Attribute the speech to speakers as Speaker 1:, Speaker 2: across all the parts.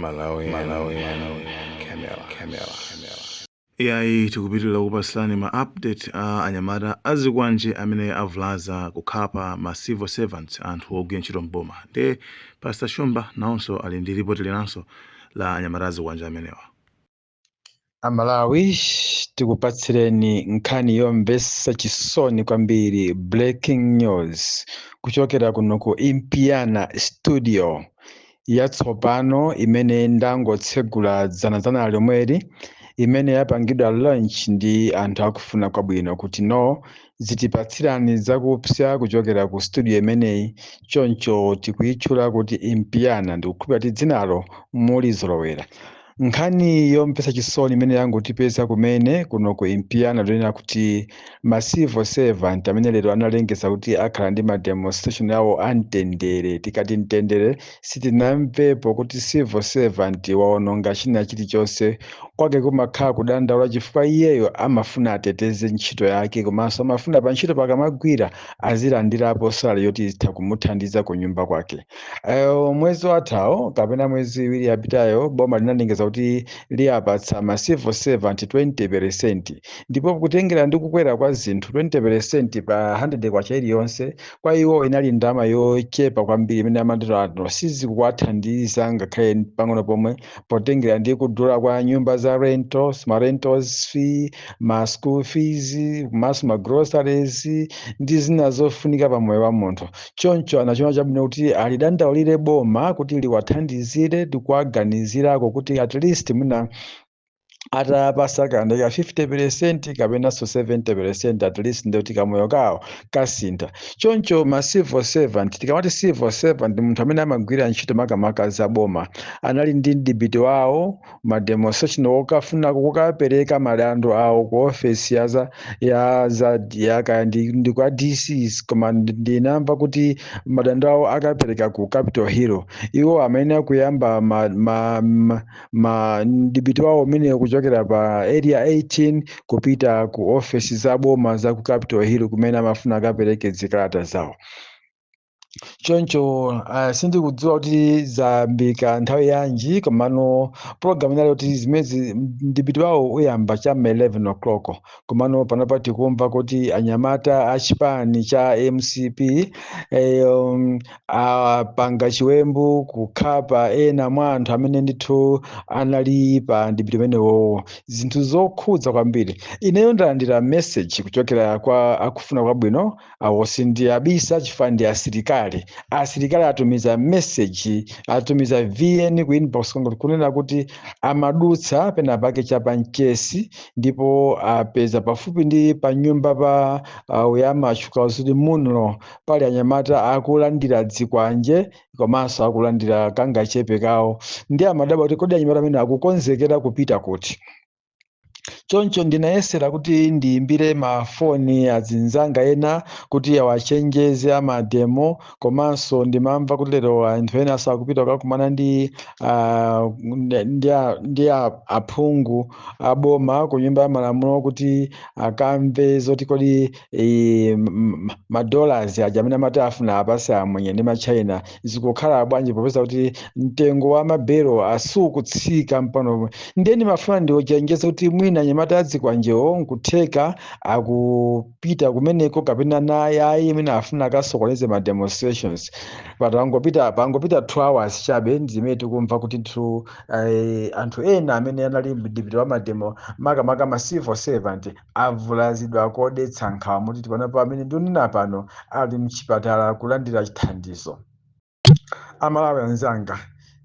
Speaker 1: Malawian Camera. iyayi tikupitirira kupatsirani ma update a anyamata azikwanje amene avulaza kukhapa ma civil servants anthu ogwira ntchito m'boma nde pastor shumba nawonso ali ndi lipoti linanso la anyamata azikwanje amenewa
Speaker 2: amalawi tikupatsireni nkhani yomvetsa chisoni kwambiri breaking news kuchokera kuno ku impiana studio yatsopano imene ndangotsegula dzanadzana lomweli imene yapangidwa launch ndi anthu akufuna kwabwino kuti no zitipatsirani zakupsa kuchokera ku studio imeneyi choncho tikuyitchula kuti impiana ndikukhulupirira kuti dzinalo mulizolowera Nkhani yomvetsa chisoni imene yangotipeza kumene kuno ku Impiana ndiyonena kuti ma civil servant amene lero analengeza kuti akhala ndi ma demonstration awo a mtendere. Tikati mtendere sitinamvepo kuti civil servant waononga china chilichonse. Kwake kumakhala kudandaula chifukwa iyeyo amafuna ateteze ntchito yake komanso amafuna pantchito pakamagwira azilandirapo salary yoti izitha kumuthandiza kunyumba kwake. Mwezi wathawo kapena mwezi iwiri yapitayo boma linalengeza kuti liyapatsa ma civil servant 20 peresenti ndipo kutengera ndi kukwera kwa zinthu 20 peresenti pa 100 kwacha iliyonse kwa iwo inali ndalama yochepa kwambiri imene amati no sizikuwathandiza ngakhale pang'ono pomwe potengera ndi kudula kwa nyumba za rentals ma rentals fee ma school fees komanso ma groceries ndi zina zofunika pa moyo wa munthu choncho anachiona chabwino kuti alidandaulire boma kuti liwathandizire ndi kuwaganizirako kuti at least mwina atapatsa kandalama ka 50 peresenti kapenanso 70 peresenti at least ndiyoti kamoyo kawo kasintha choncho ma civil servant tikamati civil servant ndi munthu amene amagwira ntchito makamaka za boma anali ndi mdipiti wawo ma demonstration okafuna kukapereka madando awo ku ofesi ya za ya za ya kaya ndi, ndi kwa DCs koma ndi- ndinamva kuti madando awo akapereka ku Capital Hill iwo amene akuyamba ma, ma, ma, ma mdipiti wawo umene kuchokera pa area 18 kupita ku ofesi za boma za ku capital hill kumene amafuna akapereke zikalata zawo choncho uh, sindikudziwa kuti zayambika nthawi yanji komano program inali kuti zimezi mdipiti wawo uyamba cha ma 11 o'clock komano panopa tikumva kuti anyamata achipani cha mcp eh, um, apanga chiwembu kukhapa ena mwa anthu amene ndithu anali pa mdipiti umenewowo zinthu zokhudza kwambiri ineyo ndalandira message kuchokera kwa akufuna kwabwino awo sindiyabisa chifukwa ndi asilikali asilikali atumiza message atumiza vn ku inbox kwangu kunena kuti amadutsa pena pake cha pa mchesi ndipo apeza pafupi ndi pa nyumba pa uh, uyama achuka uzidi munlo pali anyamata akulandira dzikwanje komanso akulandira kangachepe kawo nde amadabwa kuti kodi anyamata amene akukonzekera kupita kuti choncho ndinayesera kuti ndiyimbire mafoni azinzanga ena kuti awachenjeze amademo komanso ndimamva kuti lero anthu ena akupita kukakumana ndi ah, ndi a- ndi a- aphungu aboma ku nyumba ya malamulo kuti akamve zoti kodi i- m- m- madollars aja amene amati afuna apatse amwenye ndi machina zikukhala bwanji popeza kuti mtengo wa mabelo sukutsika pano ndiye ndimafuna ndiwachenjeze kuti mwina anyamata adzikwanjewo nkutheka akupita kumeneko kapena naye ayi imene afuna akasokoneze ma demonstrations pangopita two hours chabe ndimene tikumva kuti nthu eh, anthu ena amene anali mdipiti wa mademo makamaka ma civil servant avulazidwa modetsa nkhawa moti panopa amene ndikunena pano ali mchipatala akulandira chithandizo. A Malawi anzanga,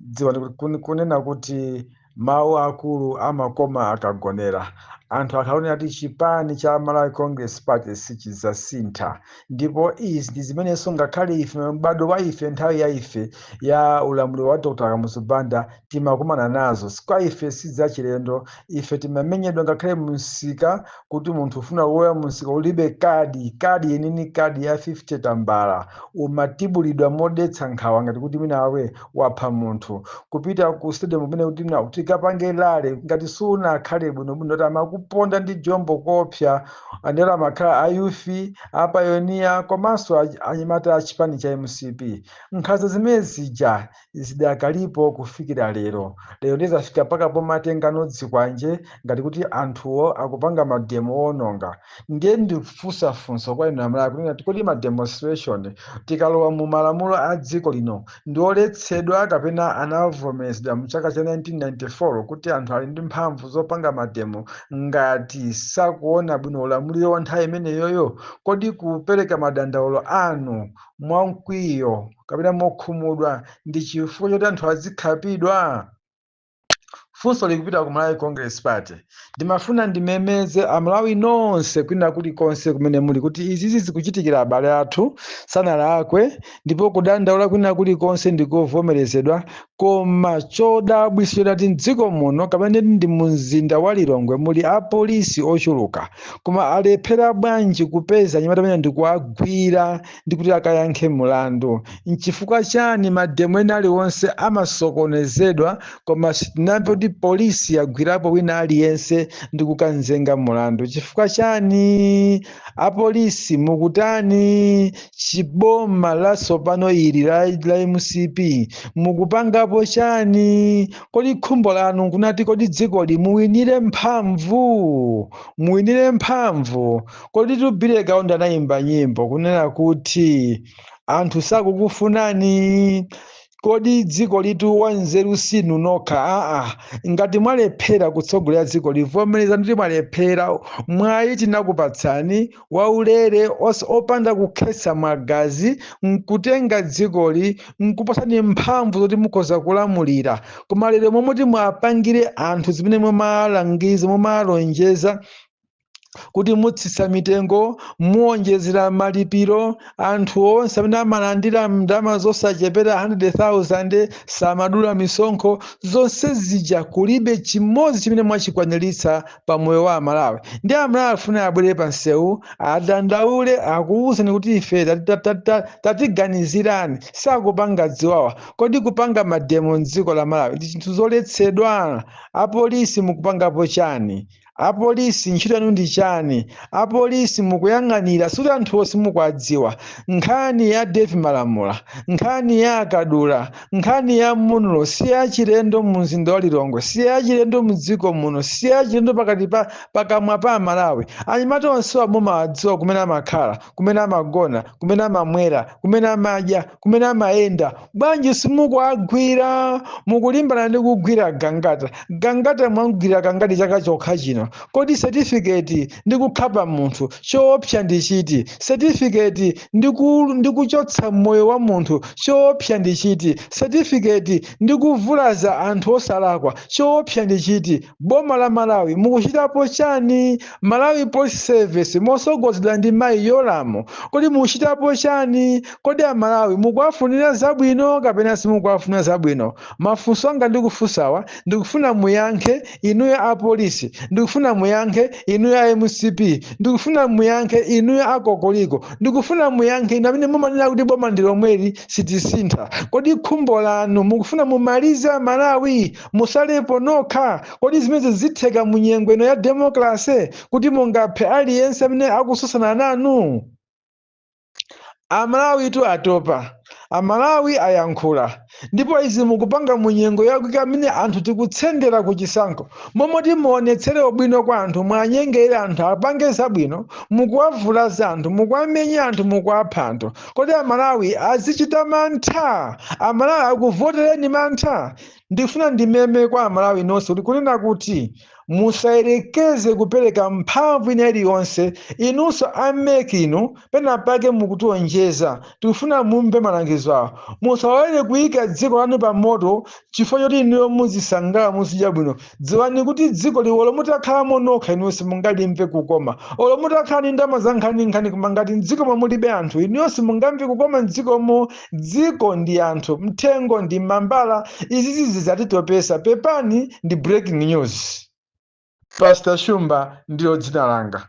Speaker 2: dziwani kunena kuti mawu akulu amakoma akagonera, anthu akhala akunena kuti chipani cha Malawi Congress Party sichidzasintha. ndipo izi ndi zimenenso ngakhale ife m'badwo wa ife nthawi ya ife ya ulamuliro wa dr kamuzu banda timakumana nazo kwa ife sizachilendo ife timamenyedwa ngakhale mumsika kuti munthu ufuna kulowa mumsika ulibe kadi kadi ya inini kadi ya 50 tambala umatibulidwa modetsa nkhawa ngati kuti mwina iwe wapha munthu kupita ku stadium kumene kuti tikapange rally ngati sunakhale bwinobwino kuti amakuponda ndi jombo koopsa Ndiye amakhala a youth, a payoniya komanso anyamata a chipani cha mcp. Nkhanza zimene zija zidakalipo kufikira lero. Lero ndiye zafika mpaka pomatengana dzikwanje ngati kuti anthuwo akupanga mademo owononga. Ndiye ndikufunsa funso kwa inu Amalawi kunena kuti kodi ma demonstration tikalowa mu malamulo a dziko lino ndi oletsedwa kapena anavomerezedwa mu chaka cha 1994 kuti anthu ali ndi mphamvu zopanga mademo ngati sakuona bwino ulamuliro wa nthawi imeneyoyo, kodi kupereka madandaulo anu mwa mkwiyo kapena mokhumudwa ndi chifukwa choti anthu azikhapidwa? funso likupita ku malawi congress party ndimafuna ndimemeze amalawi nonse kwina kulikonse kumene muli kuti izizi zikuchitikira abale athu sanalakwe ndipo kudandaula kwina kulikonse ndikovomerezedwa koma chodabwitsa nchonati mdziko muno kapena ndi mumzinda wa lilongwe muli apolisi ochuluka koma alephera bwanji kupeza anyamata amene ndikuwagwira ndi kuti akayankhe mulandu. Nchifukwa chani mademo ena aliwonse amasokonezedwa koma sitinamve kuti polisi yagwirapo wina aliyense ndi kukanzenga mulandu? Chifukwa chani? Apolisi mukutani? Chiboma latsopano ili la, la mcp mukupangapo chani? Kodi khumbo lanu nkunati kodi dzikoli muwinire mphamvu, muwinire mphamvu? Koditu Billy Kaunda anayimba nyimbo kunena kuti anthu sakukufunani kodi dzikolitu wanzeru sinu nokha aa ngati mwalephera kutsogolera dzikoli vomerezani kuti mwalephera mwayi tinakupatsani waulere os- opanda kukhetsa magazi nkutenga dzikoli nkupasani mphamvu zoti mukhoza kulamulira koma lero momwe mwapangira anthu zimene mumalangiza mumalonjeza kuti mutsitsa mitengo muwonjezera malipiro anthu onse amene amalandira ndalama zosachepera 100,000 samadula misonkho zonse zija kulibe chimodzi chimene mwachikwaniritsa pa moyo wa amalawi ndi amalawi afuna abwere pa msewu adandaule akuwuzani kuti ife tati- tati- tati- tati- tatiganizirani sakupanga ziwawa kodi kupanga mademo mdziko la malawi ndi zinthu zoletsedwa apolisi mukupangapo chani Apolisi ntchito yanu ndi chani? Apolisi mukuyang'anira sikuti anthuwo simukuwadziwa. Nkhani ya Dave Malamula, nkhani ya a Kadula, nkhani ya Munlo si yachilendo mumzinda wa Lilongwe, si yachilendo m'dziko muno, si yachilendo pakati pa pakamwa pa Amalawi. Anyamata onsewa mumawadziwa kumene amakhala, kumene amagona, kumene amamwera, kumene amadya. kumene amayenda bwanji simukuwagwira mukulimbana ndi kugwira gangata gangata mwamgwira kangati chaka chokha chino kodi setifiketi ndi kukhapa munthu choopsa ndi chiti setifiketi ndi ku- ndi kuchotsa moyo wa munthu choopsa ndi chiti setifiketi ndi kuvulaza anthu osalakwa choopsa ndi chiti Boma la Malawi mukuchitapo chani? Malawi Police Service mosogozedwa ndi mayi Yolamu kodi mukuchitapo chani? Kodi a Malawi mukuwafunira zabwino kapena simukuwafunira zabwino? Mafunso anga ndikufunsawa ndikufuna muyankhe inuyo a Police, ndikufuna muyankhe inuyo a mcp, ndikufuna muyankhe inuyo a Kokoliko, ndikufuna muyankhe inu amene mumanena kuti boma ndilomweli sitisintha. Kodi khumbo lanu mukufuna mumalize a Malawi? Musalepo nokha, kodi zimenezi zitheka mu nyengo ino ya democracy kuti mungaphe aliyense amene akutsutsana nanu? Amalawitu atopa, amalawi ayankhula ndipo izi mukupanga mu nyengo yakuti amene anthu tikutsendera ku chisankho mmomoti muonetsere ubwino kwa anthu muanyengere anthu apange zabwino mukuwavulaza anthu mukuwamenya anthu mukuwapha anthu kodi amalawi azichita mantha? Amalawi akuvotereni mantha? ndikufuna ndimeme kwa amalawi nonse kuti kunena kuti musayerekeze kupereka mphamvu ina iliyonse inunso a MEC inu pena pake mukutionjeza tikufuna mumve malangizo awo musalolere kuyika dziko lanu pa moto chifukwa choti inuyo muzisangala muzidya bwino dziwani kuti dzikoli olo mutakhalamo nokha inuyo simungalimve kukoma olo mutakhala ndi ndalama za nkhaninkhani koma ngati mdzikomo mulibe anthu inuyo simungamve kukoma mdzikomo dziko ndi anthu mthengo ndi mambala izizi zizatitopesa pepani ndi breaking news pastor shumba ndilo dzina langa